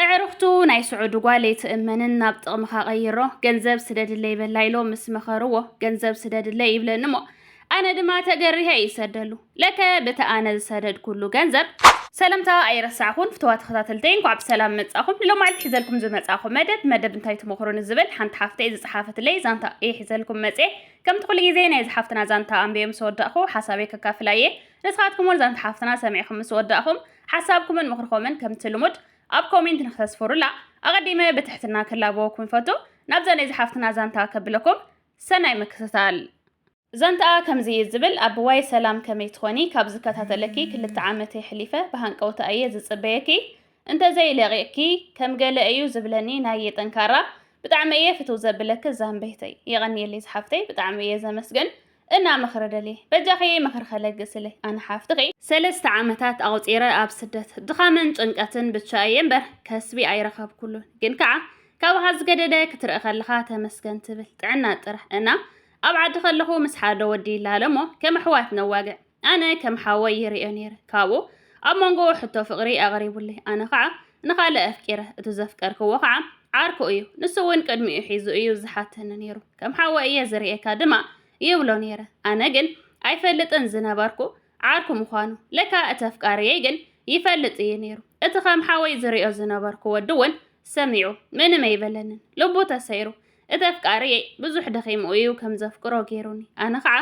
እዕርኽቱ ናይ ስዑዲ ጓል ኣይትእመንን ናብ ጥቕምኻ ቀይሮ ገንዘብ ስደድለይ በላ ኢሎ ምስ መኸርዎ ገንዘብ ስደድለይ ይብለኒ እሞ ኣነ ድማ ተገሪሀ ይሰደሉ ለከ ብቲ ኣነ ዝሰደድኩሉ ገንዘብ ሰለምታ ኣይረሳዕኹን ፍትዋ ተኸታተልተይ እንኳዕ ብሰላም መጻኹም ንሎ መዓልቲ ሒዘልኩም ዝመጻኹ መደብ መደብ እንታይ ትመኽሩኒ ዝብል ሓንቲ ሓፍተይ ዝጸሓፈትለይ ዛንታ እየ ሒዘልኩም መጽ ከምቲ ኩሉ ግዜ ናይ ዝሓፍትና ዛንታ ኣንብየ ምስ ወዳእኹ ሓሳበይ ከካፍላ እየ ንስኻትኩም እውን ዛንታ ሓፍትና ሰሚዕኹም ምስ ወዳእኹም ሓሳብኩምን ምኽርኮምን ከምቲ ልሙድ ኣብ ኮሜንት ንክተስፍሩላ ኣቐዲመ ብትሕትና ክላበወኩም ይፈቱ። ናብዛ ናይ ዝሓፍትና ዛንታ ከብለኩም ሰናይ ምክትታል። ዛንትኣ ከምዚ እዩ ዝብል ኣቡዋይ ሰላም ከመይ ትኾኒ ካብ ዝከታተለኪ ክልተ ዓመት የሕሊፈ ብሃንቀውታ እየ ዝጽበየኪ እንተዘይ ለቂቅኪ ከም ገለ እዩ ዝብለኒ ናየ ጠንካራ ብጣዕሚ እየ ፍትው ዘብለኪ ዛንበይተይ የቀንየለይ ዝሓፍተይ ብጣዕሚ እየ ዘመስግን እና ምክሪ ደልየ በጃኺ ምክሪ ከለግስለይ ኣነ ሓፍትኺ ሰለስተ ዓመታት ኣቁጺረ ኣብ ስደት ድኻምን ጭንቀትን ብቻ እየ እምበር ከስቢ ኣይረኸብኩሉን ግን ከዓ ካብኻ ዝገደደ ክትርኢ ከለኻ ተመስገን ትብል ጥዕና ጥራሕ እና ኣብ ዓዲ ከለኹ ምስ ሓደ ወዲ ይላለ እሞ ከም ኣሕዋት ነዋግዕ ኣነ ከም ሓወይ ይርእዮ ነይረ። ካብኡ ኣብ መንጎ ሕቶ ፍቕሪ ኣቕሪቡለይ፣ ኣነ ኸዓ ንኻልእ ኣፍቂረ። እቲ ዘፍቀርክዎ ኸዓ ዓርኩ እዩ፣ ንሱ እውን ቅድሚኡ ሒዙ እዩ ዝሓተኒ ነይሩ። ከም ሓወይ እየ ዝርእየካ ድማ ይብሎ ነይረ። ኣነ ግን ኣይፈልጥን ዝነበርኩ ዓርኩ ምዃኑ። ለካ እቲ ኣፍቃሪየይ ግን ይፈልጥ እዩ ነይሩ። እቲ ከም ሓወይ ዝርእዮ ዝነበርኩ ወዲ እውን ሰሚዑ ምንም ኣይበለንን፣ ልቡ ተሰይሩ። እቲ ኣፍቃሪየይ ብዙሕ ደኺሙ እዩ ከም ዘፍቅሮ ጌሩኒ ኣነ ኸዓ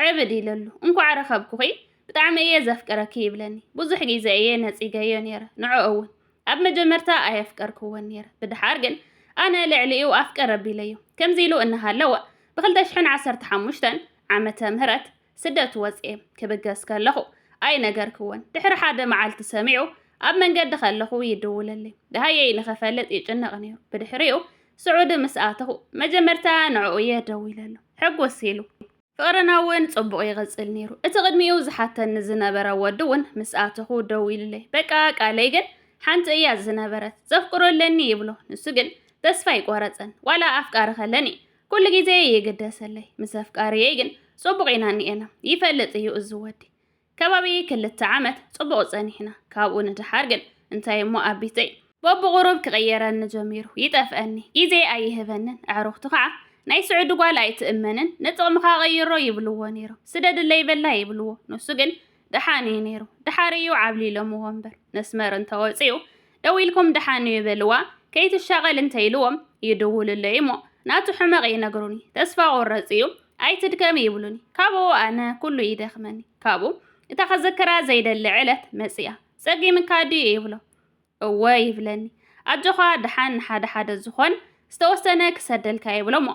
ዕብድ ኢለሉ እንኳዕ ረኸብኩኺ ብጣዕሚ እየ ዘፍቅረኪ ይብለኒ ብዙሕ ግዜ እየ ነጺገዮ ኔረ ንዕኡ እውን ኣብ መጀመርታ ኣየፍቀርክዎን ኔረ ብድሓር ግን ኣነ ልዕሊኡ ኣፍቅር ኣቢለዮ ከምዚ ኢሉ እናሃለወ ብ ክልተ ሽሕን ዓሰርተ ሓሙሽተን ዓመተ ምህረት ስደት ወጽኤ ክብገስ ከለኹ ኣይነገርክዎን። ድሕሪ ሓደ መዓልቲ ሰሚዑ ኣብ መንገዲ ከለኹ ይድውለለይ። ደሃየይ ንኽፈልጥ ይጭነቕ ነይሩ። ብድሕሪኡ ስዑዲ ምስ ኣተኹ መጀመርታ ንዕኡ እየ ደዊለሉ። ሕጉስ ኢሉ። ፍቕርና እውን ጽቡቕ ይቕጽል ነይሩ። እቲ ቅድሚኡ ዝሓተኒ ዝነበረ ወዲ እውን ምስ ኣተኹ ደዊሉለይ። በቃ ቃለይ ግን ሓንቲ እያ ዝነበረት። ዘፍቅሮ ኣለኒ ይብሎ። ንሱ ግን ተስፋ ኣይቆረጸን። ዋላ ኣፍቃሪ ከለኒ ኩሉ ግዜ ይግደሰለይ ምስ ኣፍቃሪየይ ግን ጽቡቕ ኢና እኒኤና ይፈልጥ እዩ እዚ ወዲ ከባቢ ክልተ ዓመት ጽቡቕ ጸኒሕና ካብኡ ንደሓር ግን እንታይ እሞ ኣቢተይ በብቑሩብ ክቕየረኒ ጀሚሩ ይጠፍኣኒ ግዜ ኣይህበንን ኣዕሩኽቱ ከዓ ናይ ስዑዲ ጓል ኣይትእመንን ንጥቕምኻ ቐይሮ ይብልዎ ነይሮም ስደድለይ በላ ይብልዎ ንሱ ግን ደሓን እዩ ነይሩ ደሓር እዩ ዓብሊሎምዎ እምበር መስመር እንተወፂኡ ደዊልኩም ደሓን እዩ በልዋ ከይትሻቐል እንተይልዎም ይድውሉለይ እሞ ናቱ ሕመቕ ይነግሩኒ ተስፋ ቆረፅ እዩ ኣይትድከም ይብሉኒ ካብኡ ኣነ ኩሉ ይደኽመኒ ካብኡ እታ ከዘክራ ዘይደሊ ዕለት መፅኣ ጸጊምካ ድዩ ይብሎ እወ ይብለኒ ኣጆኻ ድሓን ንሓደ ሓደ ዝኾን ዝተወሰነ ክሰደልካ ይብሎሞ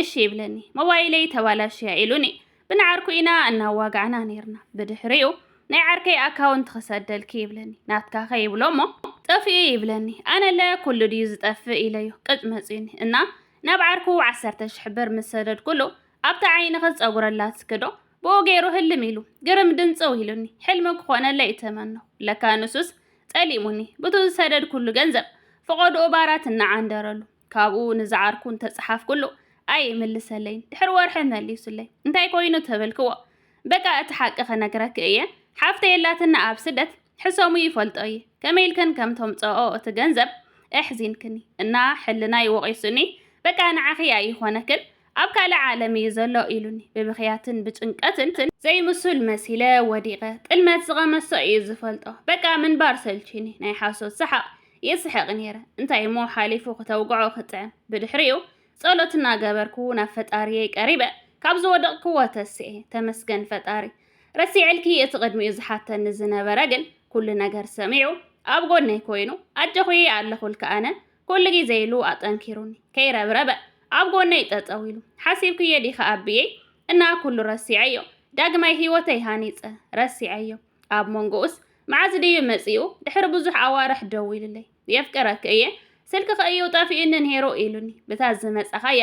እሺ ይብለኒ ሞባይለይ ተባላሽያ ኢሉኒ ብንዓርኩ ኢና እናዋጋዕና ነይርና ብድሕሪኡ ናይ ዓርከይ ኣካውንት ክሰደልኪ ይብለኒ ናትካኸ ይብሎሞ ጠፊኡ ይብለኒ ኣነለ ኩሉ ድዩ ዝጠፍእ ኢለዮ ቅጭ መፅዩኒ እና ናብ ዓርኩ ዓሰርተ ሽሕ ብር ምስ ሰደድኩሉ ኣብታ ዓይንኽስ ፀጉሪ ኣላትስክዶ ብኡ ገይሩ ህልም ኢሉ ግርም ድንፅው ኢሉኒ ሕልሚ ክኾነለይ ተመነኹ ለካ ንሱስ ጠሊሙኒ ብቱ ዝሰደድኩሉ ገንዘብ ፈቐድኡ ባራት እናዓንደረሉ ካብኡ ንዝዓርኩ እንተጸሓፍኩሉ ኣይምልሰለይን ድሕሪ ወርሒ መሊሱለይ እንታይ ኮይኑ ተበልክዎ በቃ እቲ ሓቂ ክነግረኪ እየ ሓፍተይ ኣላትና ኣብ ስደት ሕሰሙ ይፈልጦ እየ ከመይ ኢልክን ከም ተምጽኦ እቲ ገንዘብ ኣሕዚንክኒ እና ሕልናይ ወቒሱኒ በቃ ንዓኺ ኣይኾነክን ኣብ ካልእ ዓለም እዩ ዘሎ ኢሉኒ። ብብኽያትን ብጭንቀትን ዘይምሱል መሲለ ወዲቐ። ጥልመት ዝቐመሶ እዩ ዝፈልጦ። በቃ ምንባር ሰልቺኒ። ናይ ሓሶት ሰሓቕ ይስሕቕ ነይረ። እንታይ እሞ ሓሊፉ ክተውግዖ ክጥዕም። ብድሕሪኡ ጸሎት እናገበርኩ ናብ ፈጣሪየይ ቀሪበ። ካብ ዝወደቕክዎ ተሲኤ። ተመስገን ፈጣሪ። ረሲዐልኪ እቲ ቅድሚኡ ዝሓተኒ ዝነበረ ግን ኩሉ ነገር ሰሚዑ ኣብ ጎነይ ኮይኑ ኣጆኺ ኣለኹልኪ ኣነ ኩሉ ግዜ ኢሉ ኣጠንኪሩኒ ከይረብረበ ኣብ ጎነይ ጠጠው ኢሉ ሓሲብክዬ ዲኻ ኣቢየይ እና ኩሉ ረሲዐዮ ዳግማይ ሂወተይ ሃኒጸ ረሲዐዮ ኣብ ሞንጎኡስ መዓዝ ድዩ መጺኡ ድሕሪ ብዙሕ ኣዋርሕ ደዊሉለይ የፍቅረኪ እየ ስልክኺ እዩ ጠፊኡኒ ኔሩ ኢሉኒ ብታ ዝመጻኻያ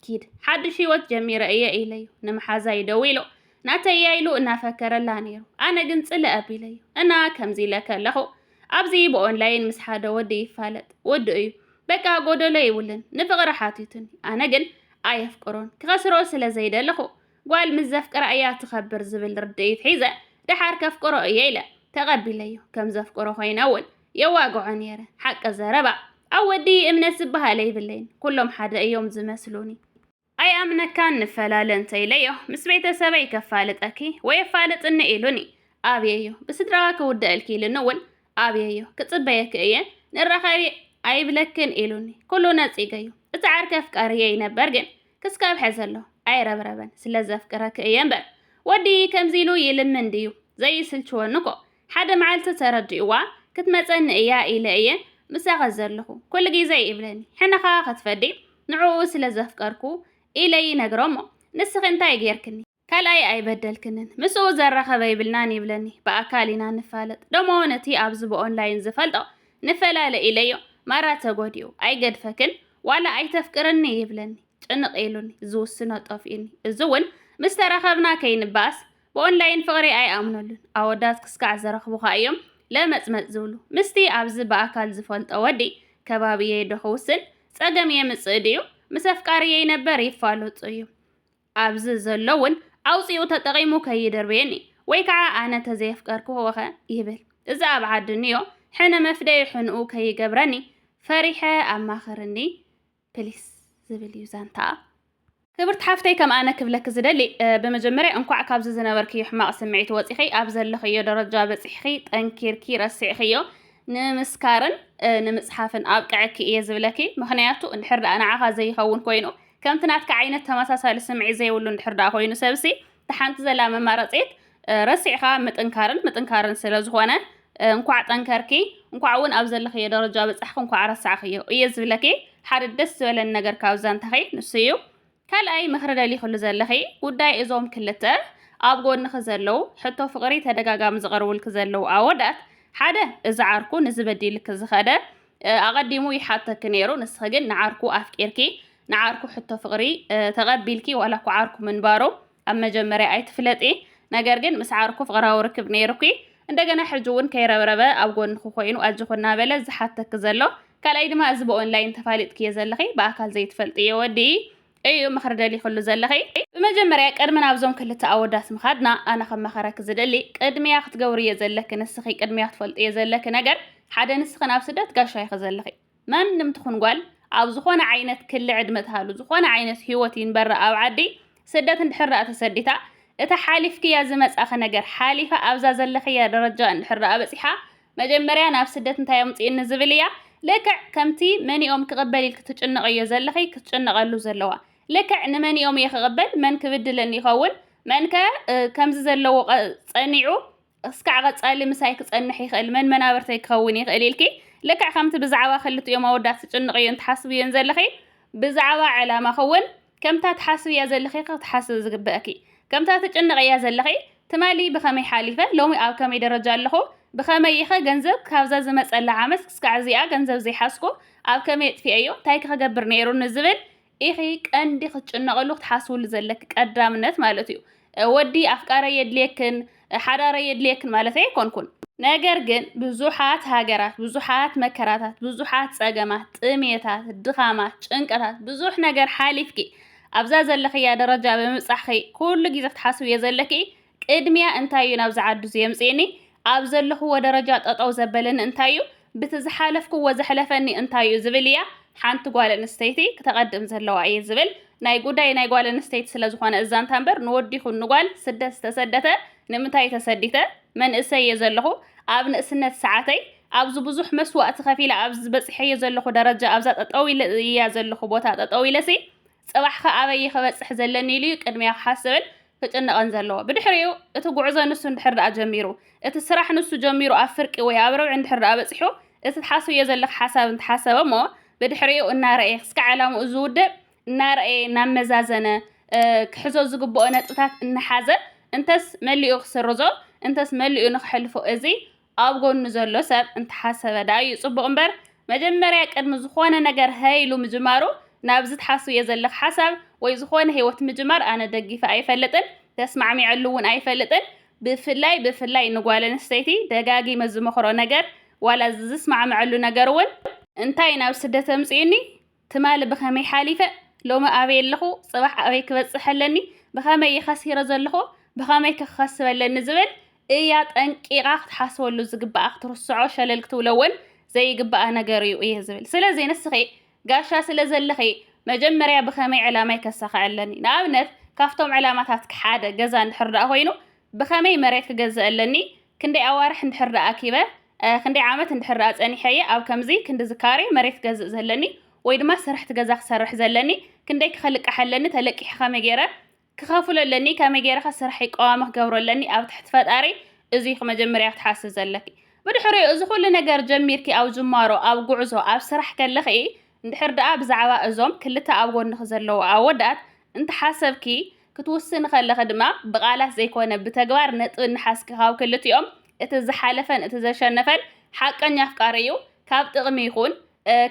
ኪድ ሓድሽ ህይወት ጀሚረ እየ ኢለዩ ንምሓዛይ ደዊሎ ናተይ እያ ኢሉ እናፈከረላ ነይሩ ኣነ ግን ጽለ ኣቢለዩ እና ከምዚ ኢለ ከለኹ ኣብዚ ብኦንላይን ምስ ሓደ ወዲ ይፋለጥ ወዲ እዩ በቃ ጎደሎ ይብልን ንፍቕሪ ሓቲቱኒ ኣነ ግን ኣየፍቅሮን ክኸስሮ ስለ ዘይደለኹ ጓል ምስ ዘፍቅራ እያ ትኸብር ዝብል ርድኢት ሒዘ ደሓር ከፍቅሮ እየ ኢለ ተቐቢለዩ ከም ዘፍቅሮ ኮይነ እውን የዋግዖ ኔረ ሓቂ ዘረባ። ኣብ ወዲ እምነት ዝበሃል ኣይብለይን ኩሎም ሓደ እዮም ዝመስሉኒ። ኣይኣምነካን ንፈላለ እንተ ኢለዮ ምስ ቤተሰበይ ከፋልጠኪ ወይ ኣፋልጥኒ ኢሉኒ ኣብየዮ ብስድራዋ ክውደኣልኪ ኢሉኒ ውን ኣብየዮ ክጽበየኪ እየ ንራኸቢ ኣይብለክን ኢሉኒ ኩሉ ነጺገዮ እቲ ዓርኪ ኣፍቃሪየይ ነበር ግን ክስካብ ሕዚ ኣሎ ኣይረብረበን ስለ ዘፍቅረኪ እየ እምበር ወዲ ከምዚ ኢሉ ይልምን ድዩ ዘይስልችወኒ እኮ ሓደ መዓልቲ ተረዲእዋ፣ ክትመጸኒ እያ ኢለ እየ ምሳኺ ዘለኹ ኩሉ ግዜ ይብለኒ። ሕነ ከኣ ክትፈዲ ንዕኡ ስለ ዘፍቀርኩ ኢለ ይነግሮ እሞ ንስኺ እንታይ ጌርክኒ? ካልኣይ ኣይበደልክንን፣ ምስኡ ዘራኸበ ይብልናን ይብለኒ። ብኣካል ኢና ንፋለጥ፣ ደሞ ነቲ ኣብዚ ብኦንላይን ዝፈልጦ ንፈላለ ኢለዮ ማራ ተጎዲኡ። ኣይገድፈክን ዋላ ኣይተፍቅርኒ ይብለኒ። ጭንቕ ኢሉኒ፣ ዝውስኖ ጠፊኡኒ። እዚ'ውን ምስ ተራኸብና ከይንበኣስ ብኦንላይን ፍቕሪ ኣይኣምኑሉን፣ ኣወዳት ክስካዕ ዝረኽቡኻ እዮም ለመጽመጽ ዝብሉ። ምስቲ ኣብዚ ብኣካል ዝፈልጦ ወዲ ከባቢየይ ዶ ክውስን? ጸገም የምጽእ ድዩ? ምስ ኣፍቃሪየይ ነበር ይፋለጡ እዮም። ኣብዚ ዘሎ እውን ኣውጺኡ ተጠቒሙ ከይድርብየኒ፣ ወይ ከዓ ኣነ ተዘየፍቀርክዎኸ ይብል። እዚ ኣብ ዓዲ እንዮ ሕነ መፍደዪ ሕንኡ ከይገብረኒ ፈሪሐ ኣማኽርኒ ፕሊስ ዝብል እዩ ዛንታኣ። ክብርቲ ሓፍተይ ከም ኣነ ክብለኪ ዝደሊ ብመጀመርያ እንኳዕ ካብዚ ዝነበርክዮ ሕማቕ ስምዒት ወጺኺ ኣብ ዘለኽዮ ደረጃ በጺሕኺ ጠንኪርኪ ረሲዕኽዮ ንምስካርን ንምጽሓፍን ኣብቅዐኪ እየ ዝብለኪ ምኽንያቱ እንድሕር ደኣ ንዓኻ ዘይኸውን ኮይኑ ከምቲ ናትካ ዓይነት ተመሳሳሊ ስምዒት ዘይብሉ እንድሕር ደኣ ኮይኑ ሰብሲ ተሓንቲ ዘላ መማረጺት ረሲዕኻ ምጥንካርን ምጥንካርን ስለ ዝኾነ እንኳዕ ጠንከርኪ እንኳዕ እውን ኣብ ዘለኽዮ ደረጃ በጻሕኪ እንኳዕ ረሳዕኽዮ እየ ዝብለኪ ሓደ ደስ ዝበለኒ ነገር ካብ ዛንታኺ ንሱ እዩ ካልኣይ ምኽሪ ደሊኽሉ ዘለኺ ጉዳይ እዞም ክልተ ኣብ ጎንኺ ዘለው ሕቶ ፍቕሪ ተደጋጋሚ ዝቐርቡልኪ ዘለው ኣወዳት ሓደ እዚ ዓርኩ ንዚ በዲልኪ ዝኸደ ኣቐዲሙ ይሓተኪ ነይሩ ንስኺ ግን ንዓርኩ ኣፍቂርኪ ንዓርኩ ሕቶ ፍቕሪ ተቐቢልኪ ዋላ እኳ ዓርኩ ምንባሩ ኣብ መጀመርያ ኣይትፍለጢ ነገር ግን ምስ ዓርኩ ፍቕራዊ ርክብ ነይሩኪ እንደገና ሕጂ እውን ከይረብረበ ኣብ ጎንኺ ኮይኑ ኣጆኺ እናበለ ዝሓተኪ ዘሎ ካልኣይ ድማ እዚ ብኦንላይን ተፋሊጥክዮ ዘለኺ ብኣካል ዘይትፈልጥዮ ወዲ እዩ ምኽሪ ደሊኽሉ ዘለኺ ብመጀመርያ ቅድሚ ናብዞም ክልተ ኣወዳት ምኻድና ኣነ ክመኸረኪ ዝደሊ ቅድሚያ ክትገብርዮ ዘለኪ ንስኺ ቅድሚያ ክትፈልጥዮ ዘለኪ ነገር ሓደ ንስኺ ናብ ስደት ጋሻ ኢኺ ዘለኺ ማንም ትኹን ጓል ኣብ ዝኾነ ዓይነት ክሊ ዕድመ ትሃሉ ዝኾነ ዓይነት ህይወት ይንበራ ኣብ ዓዲ ስደት እንድሕር ደኣ ተሰዲታ እታ ሓሊፍክያ ዝመጻኺ ነገር ሓሊፋ ኣብዛ ዘለኽያ ደረጃ እንድሕር ደኣ በጺሓ መጀመርያ ናብ ስደት እንታይ ኣምጽእኒ ዝብል እያ ልክዕ ከምቲ መንኦም ክቕበል ኢልኪ ትጭነቕዮ ዘለኺ ክትጭነቐሉ ዘለዋ ልክዕ ንመንኦም እየ ክቕበል መን ክብድለኒ ይኸውን መንከ ከምዚ ዘለዎ ጸኒዑ እስካዕ ቀጻሊ ምሳይ ክጸንሕ ይኽእል መን መናብርተይ ክኸውን ይኽእል ኢልኪ ልክዕ ከምቲ ብዛዕባ ክልቲኦም ኣወዳት ትጭንቕዮን ትሓስብዮን ዘለኺ ብዛዕባ ዕላማኺ እውን ከምታ ትሓስብያ ዘለኺ ክትሓስቢ ዝግበእኪ ከምታ ትጭንቕያ ዘለኺ ትማሊ ብኸመይ ሓሊፈ ሎሚ ኣብ ከመይ ደረጃ ኣለኹ ብኸመይ ኢኸ ገንዘብ ካብዛ ዝመጸላ ዓመት እስካዕ እዚኣ ገንዘብ ዘይሓዝኩ ኣብ ከመይ ኣጥፊኤዮ እንታይ ክገብር ነይሩኒ ዝብል ኢኺ ቀንዲ ክትጭነቕሉ ክትሓስብሉ ዘለኪ ቀዳምነት ማለት እዩ። ወዲ ኣፍቃረይ የድልየክን ሓዳረይ የድልየክን ማለተይ ኣይኮንኩን። ነገር ግን ብዙሓት ሃገራት፣ ብዙሓት መከራታት፣ ብዙሓት ጸገማት፣ ጥሜታት፣ ድኻማት፣ ጭንቀታት፣ ብዙሕ ነገር ሓሊፍኪ ኣብዛ ዘለኽያ ደረጃ ብምብጻሕኺ ኩሉ ግዜ ክትሓስብዮ ዘለኪ ቅድሚያ እንታይ እዩ ናብዚ ዓዱ ዝየምጽእኒ ኣብ ዘለኹዎ ደረጃ ጠጠው ዘበለኒ እንታይ እዩ ብቲ ዝሓለፍኩዎ ዘሕለፈኒ እንታይ እዩ ዝብል እያ ሓንቲ ጓል ኣንስተይቲ ክተቐድም ዘለዋ እየ ዝብል ናይ ጉዳይ ናይ ጓል ኣንስተይቲ ስለ ዝኾነ እዛንታ እምበር ንወዲ ይኹን ንጓል ስደት ዝተሰደተ ንምንታይ ተሰዲተ መንእሰይ እየ ዘለኹ ኣብ ንእስነት ሰዓተይ ኣብዚ ብዙሕ መስዋእቲ ከፊለ ኣብዚ በጺሐዮ ዘለኹ ደረጃ ኣብዛ ጠጠው ኢለ እያ ዘለኹ ቦታ ጠጠው ኢለሲ ጽባሕከ ኣበይ'የ ክበጽሕ ዘለኒ ኢሉ'ዩ ቅድሚያ ክሓስብን ክጭነቕን ዘለዎ። ብድሕሪኡ፣ እቲ ጉዕዞ ንሱ እንድሕር ደኣ ጀሚሩ፣ እቲ ስራሕ ንሱ ጀሚሩ ኣብ ፍርቂ ወይ ኣብ ርብዒ እንድሕር ደኣ በጺሑ፣ እቲ ትሓስብዮ ዘለኺ ሓሳብ እንተሓሰበ'ሞ ብድሕሪኡ እናረኣየ ክስካዕ ዕላምኡ ዝውድእ እናረኣየ እናመዛዘነ ክሕዞ ዝግብኦ ነጥብታት እናሓዘ እንተስ መሊኡ ክስርዞ እንተስ መሊኡ ንኸሕልፎ እዚ ኣብ ጎኑ ዘሎ ሰብ እንተሓሰበ ደኣ እዩ ጽቡቕ እምበር መጀመርያ ቅድሚ ዝኾነ ነገር ሀይ ኢሉ ምጅማሩ ናብዚ ትሓስብዮ ዘለኺ ሓሳብ ወይ ዝኾነ ሂወት ምጅማር ኣነ ደጊፈ ኣይፈልጥን ተስማዕሚዐሉ ውን ኣይፈልጥን ብፍላይ ብፍላይ ንጓል ኣንስተይቲ ደጋጊመ ዝመኽሮ ነገር ዋላ ዝስማዕመዐሉ ነገር ውን እንታይ ናብ ስደት ኣምጺኡኒ ትማሊ ብኸመይ ሓሊፈ፣ ሎሚ ኣበይ ኣለኹ፣ ጽባሕ ኣበይ ክበጽሕ ኣለኒ፣ ብኸመይ እየ ኸሲረ ዘለኹ፣ ብኸመይከ ክኸስብ ኣለኒ ዝብል እይ ኣጠንቂቓ ክትሓስበሉ ዝግብኣ ክትርስዖ ሸለል ክትብሎ እውን ዘይግብኣ ነገር እዩ እየ ዝብል። ስለዚ ንስኺ ጋሻ ስለ ዘለኺ መጀመርያ ብኸመይ ዕላማይ ከሳኽዕ ኣለኒ፣ ንኣብነት ካብቶም ዕላማታትኪ ሓደ ገዛ እንድሕር ደኣ ኮይኑ ብኸመይ መሬት ክገዝእ ኣለኒ፣ ክንደይ ኣዋርሕ እንድሕር ደኣ ኣኪበ፣ ክንደይ ዓመት እንድሕር ደኣ ጸኒሐ እየ ኣብ ከምዚ ክንድዚ ካሬ መሬት ክገዝእ ዘለኒ ወይ ድማ ስርሕቲ ገዛ ክሰርሕ ዘለኒ፣ ክንደይ ክኸልቅሕ ኣለኒ፣ ተለቂሐ ከመይ ገይረ ክኸፍሎ ኣለኒ፣ ከመይ ገይረኸ ስርሐይ ቀዋሚ ክገብሮ ኣለኒ፣ ኣብ ትሕቲ ፈጣሪ እዚ ኢኺ መጀመርያ ክትሓስቢ ዘለኪ። ብድሕሪኡ እዚ ኩሉ ነገር ጀሚርኪ ኣብ ጅማሮ ኣብ ጉዕዞ ኣብ ስራሕ ከለኺ እንድሕር ደኣ ብዛዕባ እዞም ክልተ ኣብ ጎንኺ ዘለዉ ኣወዳት እንተሓሰብኪ፣ ክትውስኒ ከለኺ ድማ ብቓላት ዘይኮነ ብተግባር ነጥቢ እናሓዝኪ ካብ ክልቲኦም እቲ ዝሓለፈን እቲ ዘሸነፈን ሓቀኛ ኣፍቃሪ እዩ ካብ ጥቕሚ ይኹን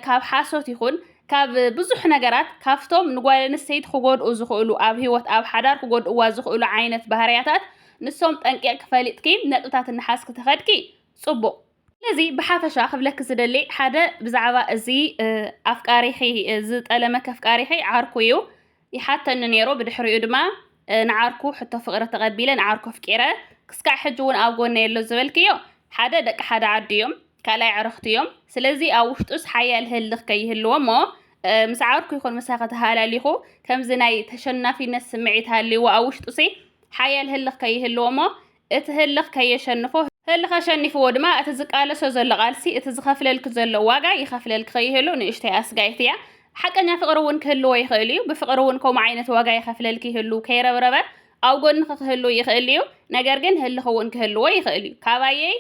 ካብ ሓሶት ይኹን ካብ ብዙሕ ነገራት ካብቶም ንጓል ኣንስተይቲ ክጎድኡ ዝኽእሉ ኣብ ህይወት ኣብ ሓዳር ክጎድእዋ ዝኽእሉ ዓይነት ባህርያታት ንሶም ጠንቂቕኪ ፈሊጥኪ ነጥብታት እናሓዝኪ ተኸድኪ ጽቡቕ ስለዚ ብሓፈሻ ክብለኪ ዝደሊ ሓደ ብዛዕባ እዚ ኣፍቃሪኺ ዝጠለመኪ ኣፍቃሪኺ ዓርኩ እዩ ይሓተኒ ነይሩ፣ ብድሕሪኡ ድማ ንዓርኩ ሕቶ ፍቕሪ ተቐቢለ ንዓርኩ ኣፍቂረ፣ ክስካዕ ሕጂ ውን ኣብ ጎነይ ኣሎ ዝበልክዮ ሓደ ደቂ ሓደ ዓዲ እዮም፣ ካልኣይ ኣዕርኽቱ እዮም፣ ስለዚ ኣብ ውሽጡስ ሓያል ህልኽ ከይህልዎ እሞ ምስ ዓርኩ ይኹን ምሳኺ ተሃላሊኹ ከምዚ ናይ ተሸናፊነት ስምዒት ሃልይዎ ኣብ ውሽጡሲ ሓያል ህልኽ ከይህልዎ እሞ እቲ ህልኽ ከየሸንፎ፣ ህልኽ ኣሸኒፍዎ ድማ እቲ ዝቃለሶ ዘሎ ቃልሲ፣ እቲ ዝኸፍለልኪ ዘሎ ዋጋ ይኸፍለልኪ ከይህሉ ንእሽተይ ኣስጋኢት እያ። ሓቀኛ ፍቕሪ እውን ክህልዎ ይኽእል እዩ፣ ብፍቕሪ እውን ከምኡ ዓይነት ዋጋ ይኸፍለልኪ ይህሉ፣ ከይረብረበ ኣብ ጎንኺ ክህሉ ይኽእል እዩ፣ ነገር ግን ህልኽ እውን ክህልዎ ይኽእል እዩ። ካባየይ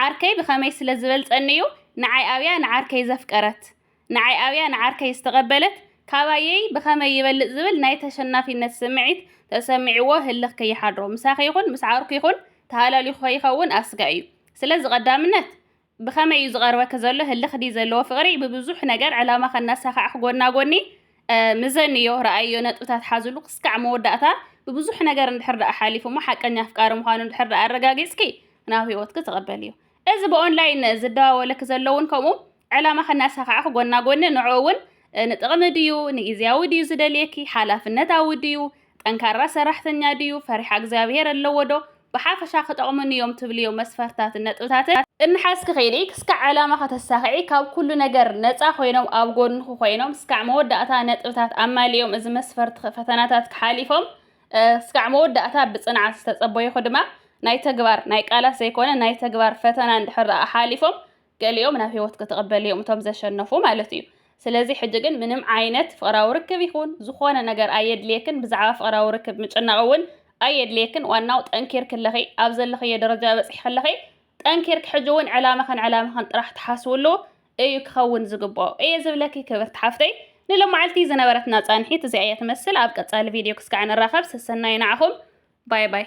ዓርከይ ብኸመይ ስለ ዝበልጸኒ እዩ ንዓይ ኣብያ ንዓርከይ ዘፍቀረት? ንዓይ ኣብያ ንዓርከይ ዝተቐበለት ካባየይ ብኸመይ ይበልጽ ዝብል ናይ ተሸናፊነት ስምዒት ተሰሚዕዎ ህልኽ ከይሓድሮ ምሳኺ ይኹን ምስ ዓርኩ ይኹን ተሃላሊኹ ከይኸውን ኣስጋእ እዩ። ስለዚ ቀዳምነት ብኸመይ እዩ ዝቐርበኪ ዘሎ ህልኽ ድዩ ዘለዎ ፍቕሪ ብብዙሕ ነገር ዕላማኺ እናሳኻዕኪ ጎና ጎኒ ምዘንዮ ረኣይዮ ነጥብታት ሓዝሉ ክስካዕ መወዳእታ ብብዙሕ ነገር እንድሕር ደኣ ሓሊፉ እሞ ሓቀኛ ኣፍቃሪ ምዃኑ እንድሕር ደኣ ኣረጋጊጽኪ ናብ ህይወትኪ ተቐበልዮ። እዚ ብኦንላይን ዝደዋወለኪ ዘሎ እውን ከምኡ ዕላማ ከናሳኻዕኽ ጎና ጎኒ ንዕኡ እውን ንጥቕሚ ድዩ ንጊዜያዊ ድዩ ዝደልየኪ ሓላፍነታዊ ድዩ ጠንካራ ሰራሕተኛ ድዩ ፈሪሓ እግዚኣብሄር ኣለዎ ዶ ብሓፈሻ ክጠቕሙኒ እዮም ትብልዮ መስፈርታትን ነጥብታትን እናሓዝኪ ኺዲ ክስካዕ ዕላማ ከተሳኽዒ ካብ ኩሉ ነገር ነፃ ኮይኖም ኣብ ጎንኹ ኮይኖም ስካዕ መወዳእታ ነጥብታት ኣማሊኦም እዚ መስፈርትኺ ፈተናታትኪ ሓሊፎም ስካዕ መወዳእታ ብፅንዓት ዝተፀበዩኺ ድማ ናይ ተግባር ናይ ቃላት ዘይኮነ ናይ ተግባር ፈተና እንድሕር ደኣ ሓሊፎም ገሊኦም ናብ ህይወት ክትቕበል እዮም እቶም ዘሸነፉ ማለት እዩ ስለዚ ሕጂ ግን ምንም ዓይነት ፍቕራዊ ርክብ ይኹን ዝኾነ ነገር ኣየድልየክን ብዛዕባ ፍቕራዊ ርክብ ምጭናቕ እውን ኣየድልየክን ዋናው ጠንኪር ክለኺ ኣብ ዘለኽዮ ደረጃ በፅሒ ክለኺ ጠንኪር ክሕጂ እውን ዕላማኽን ዕላማኽን ጥራሕ ትሓስብሉ እዩ ክኸውን ዝግብኦ እየ ዝብለኪ ክብርቲ ሓፍተይ ንሎማዓልቲ ዝነበረትና ፃንሒት እዚኣ እያ ትመስል ኣብ ቀፃሊ ቪድዮ ክስካዕ ንራኸብ ሰሰናዩ ንዓኹም ባይ ባይ